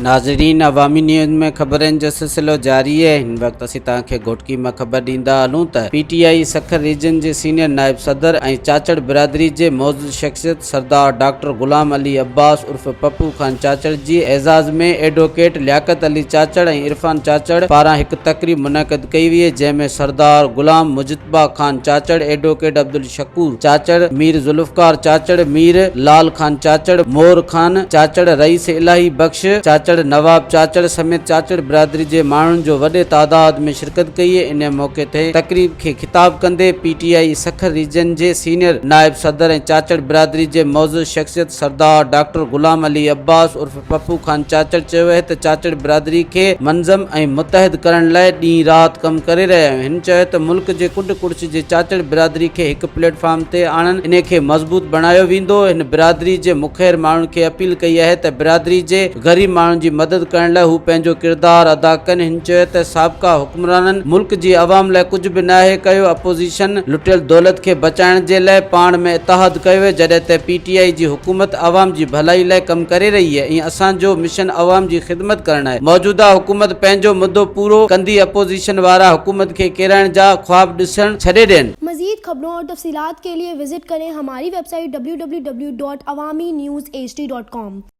ناظرين عوامي نيوز ۾ خبرن جو سلسلو جاري آهي هن وقت اسين توهان کي گهوٽڪي مان خبر ڏيندا هلون ته P T I Sukkur region جي سينيئر نائب صدر ۽ چاچڙ برادري جي معزز شخصيت سردار ڊاڪٽر غلام علي عباس عرف پپو خان چاچڙ جي اعزاز ۾ ايڊووڪيٽ لياقت علي چاچڙ ۽ عرفان چاچڙ پاران هڪ تقريب منعقد ڪئي وئي جنهن ۾ سردار غلام مجتبيٰ مصباح خان چاچڙ، ايڊووڪيٽ عبدالشڪور چاچڙ، مير ذوالفقار چاچڙ، مير لعل خان چاچڙ، مور خان چاچڙ، رئيس الاهي بخش چاچڙ، نواب چاچڙ سميت چاچڙ برادري جي ماڻهن جو وڏي تعداد ۾ شرڪت ڪئي. انهيء موقعي تي تقريب کي خطاب ڪندي P T I Sukkur region جي سينيئر نائب صدر ۽ چاچڙ برادري جي معزز شخصيت سردار ڊاڪٽر غلام علي عباس عرف پپو خان چاچڙ چيو اهي ته چاچڙ برادري کي منظم ۽ متحد ڪرڻ لاء ڏينهن رات ڪم ڪري رهيا آهيون هن چيو ته ملڪ جي ڪنڊ ڪڙڇ جي چاچڙ برادري کي هڪ پليٽ فارم تي آڻڻ انهي کي مضبوط بڻايو ويندو هن برادري جي مخير ماڻهن کي اپيل ڪئي آهي ته برادري جي غريب ماڻهن جي مدد ڪرڻ لاء هو پنهنجو ڪردار ادا ڪن هن چيو ته سابقا حڪمرانن ملڪ جي عوام لاء ڪجهه به ناهي ڪيو، اپوزيشن لٽيل دولت کي بچائڻ جي لاء پاڻ ۾ اتحاد ڪيو جڏهن ته پي ٽي آء جي حڪومت عوام جي ڀلائي لاء ڪم ڪري رهي ۽ اسان جو مشن عوام جي خدمت ڪرڻ آهي موجوده حڪومت پنهنجو مدو پورو ڪندي اپوزيشن وارا حڪومت کي ڪيرائڻ جا خواب ڏسڻ ڇڏي ڏين. مزيد خبرون اور تفصيلات کے ليے وزٽ ڪرين ھماري ويب سائيٽ www.awaminews hd.com.